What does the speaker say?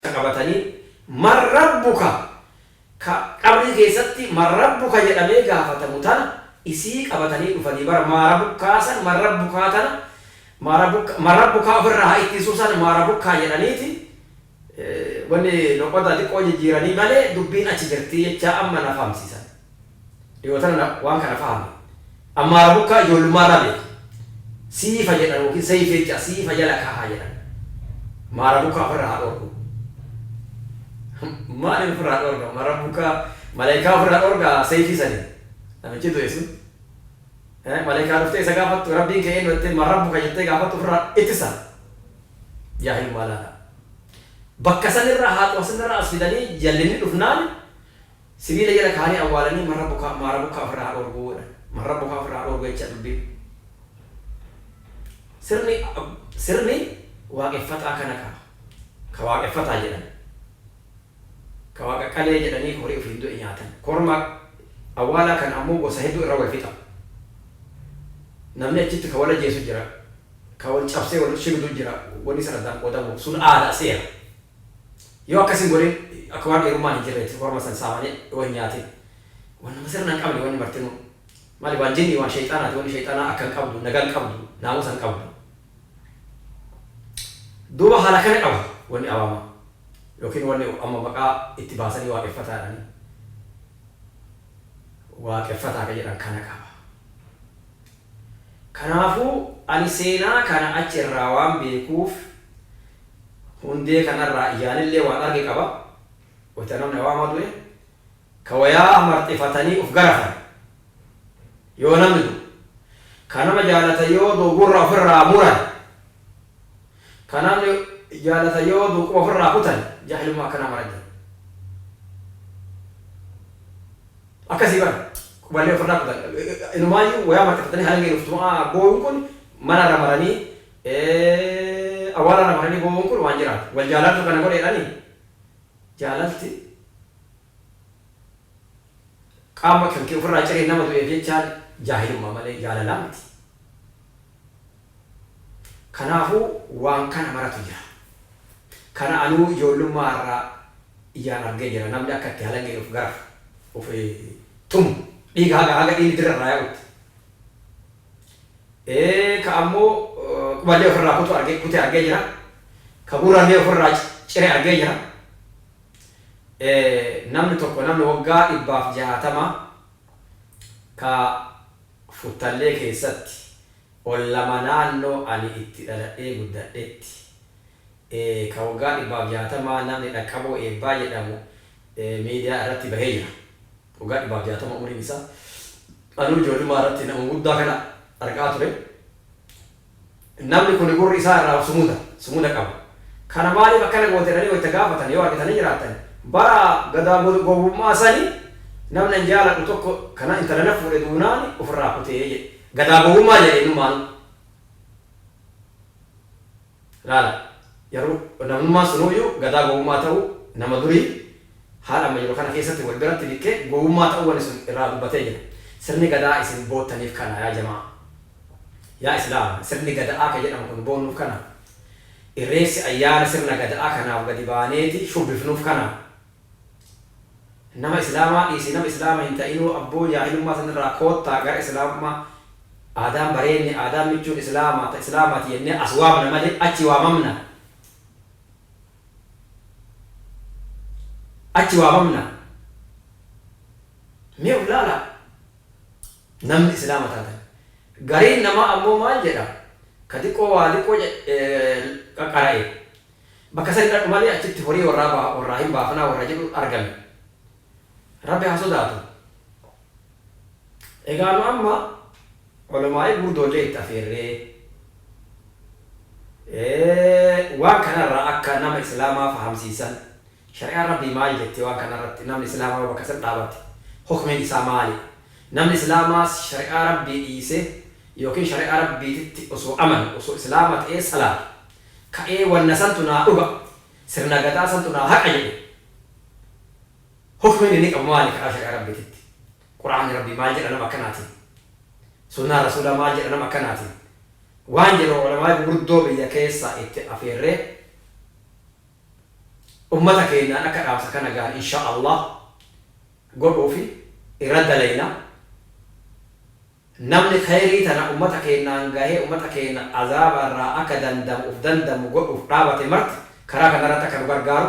qabatanii man rabbuka ka qabrii keessatti man rabbuka jedhamee gaafatamu tana isii qabatanii dhufanii bar maa rabukkaa san man rabbukaa tana maa rabukkaa man rabbukaa ofirraa haa ittisuu san maa rabukkaa jedhaniiti Wanni loqoda xiqqoo jijjiiranii malee dubbiin achi jirti jechaa amma na fahamsiisan. Dhiyoo tana na waan kana fahame. Ammaara Bukkaa ijoollummaa irraa beeka. Siifa jedhan ykn Seif jecha siifa jala kaahaa jedhan. Maara Bukkaa ofirraa haa dhoorgu. Maaliin ofirraa dhoorga? Maara Bukkaa Malaayikaa ofirraa dhoorga Seifii saniin. Namichi du'e sun. Malaayikaa dhuftee isa gaafattu Rabbiin kee eennu jettee Man Rabbuka jettee gaafattu ofirraa ittisa. Yaa ilmaa laataa. Bakka san irraa haatuma san irraa as fidanii jallinni dhufnaan sibiila jala kaa'anii awwaalanii marra bokaa, maara bokkaa ofirraa haa dhoorguu jedhan. Marra bokaa ofirraa haa dhoorguu jecha dubbiin. Sirni, sirni waaqeffataa kana qaba. Ka waaqeffataa jedhan. Ka waaqa qalee jedhanii horii ofiin du'e nyaatan. Korma awwaalaa kana ammoo gosa hedduu irra wal fixa. Namni achitti ka wal ajjeesu jira. Ka wal cabsee wal shibiduu jira wani san addaan qoodamuuf sun aadaa, seera. Yoo akkas hin godhin akka waan dhiirummaan hin jirreeti korma san saamanee yoo hin nyaatin. Wan nama sirna hin qabne wanni martinuu. Maali waan jinni waan sheyxaanaati wanni sheyxaanaa akka hin qabdu nagaa hin qabdu naamusa hin qabdu. Duuba haala kana qabu wanni awaamaa yookiin wanni amma maqaa itti baasanii waaqeffataa jedhanii waaqeffataa ka jedhan kana qaba. Kanaafuu, ani seenaa kana achi irraa waan beekuuf hundee kana irraa ijaan illee waan arge qaba, wayta namni awaamaa du'e, ka wayaa marxifatanii uf garafan, yoo namni du'u, ka nama jaalatan yoo du'u gurra uf irraa muran, Ka namni jaalatan yoo du'u quba ofirraa kutan jaahilummaa akkanaa mara jira. Akkasii bar quballee ofirraa kutan inumaayyuu wayaa marxafatanii halangeen of tuma'aa booyuun kun mana irra maranii awwaala irra maranii boo'uun kun waan jiraati. Wal jaalaaltu kana godheedhanii? Jaalalti. Qaama kankee ofirraa ciree nama du'eef jechaan jaahilummaa malee jaalalaa miti. Kanaafuu waan kana maratu jira. Kana anuu ijoollummaa irraa ijaan argee jira namni akka itti halangeen of garafu, of tumu, dhiiga haga haga dhiigni dirra irraa yaa'utti. Ee ka ammoo quballee ofirraa kutu argee kute argee jira. Ka gurrallee ofirraa cire argee jira. e Namni tokko namni waggaa dhibbaaf jahaatama ka Futtallee keessatti ol lama naannoo ani itti dhaladhee guddadhetti e ka waggaa dhibbaaf jahaatamaa namni Dhaqqaboo Eebbaa jedhamu e miidiyaa irratti bahee jira. Waggaa dhibbaaf jahaatama umriin isaa. Anuu ijoollummaa irratti nama guddaa kana argaa ture. Namni kuni gurri isaa irraa of sumuda, sumuda qaba. Kana maaliif akkana goote jedhanii wayta gaafatan yoo argitanii jiraattan, bara gadaa gowwummaa sani namni an jaaladhu tokko kana intala na fuudhe duunaan of irraa kute jedhe. Gadaa gowwummaa jedhe innummaanu. Laala, jaruu namnummaan sunuuyyu gadaa gowwummaa ta'uu nama durii Haala amma jiru kana keessatti wal biratti dikkee gowwummaa ta'uu wani sun irraa dubbatee jira. Sirni Gadaa isin boottaniif kana yaa jamaa. Yaa Islaama sirni Gada'aa ka jedhamu kun boonnuuf kanaa? Irreefsi ayyaana sirna Gada'aa kanaaf gadi baaneeti shubbifnuuf kanaa? Nama Islaamaa dhiisii nama Islaama hin ta'inuu abboo jaahilummaa san irraa koottaa gara Islaamummaa Aadaan bareenni, aadaan michuun Islaamaa ta Islaamaati jennee as waamna malee achi waamamna? Achi waamamna. Mee of ilaalaa! Namni Islaama taatan. Gariin namaa ammoo maal jedha? Ka diqqoo waa diqqoo qaqara'e bakka sani dhaqu malee achitti horii warraa hin baafanaa warra jedhu argame. Rabbi haa sodaatu. Egaa nu amma. Olamaa'ii gurdoollee itti afeerree. Waan kana irraa akka nama islaamaa fahamsiisan shari'aan rabbii maal jetti waan kana irratti namni islaamaa yoo bakka san dhaabate hukmiin isaa maali? Namni islaamaa shari'aa rabbii dhiisee ykn shari'aa rabbiititti osoo amane osoo islaama ta'ee salaatu ka'ee wanna santu naa dhuga sirna gadaa santu naa haqa jedhu hukmiin inni qabu maali karaa shari'aa rabbiititti? Qur'aanni Rabbii maal jedha nama akkanaatiin? Sunnaan Rasuulaa maal jedha nama akkanaatiin? waan jedhu Ulamaa'ii gugurdoo biyya keessaa itti afeerree ummata keennaan akka dhaamsa kana gahan inshaa Allaah godhuufi irra dalayna. Namni kheyrii tana ummata keennaan gahee ummata keenna azaaba irraa akka dandamamu uf dandammu godhuuf dhaabate marti karaa kana irratti akka nu gargaaru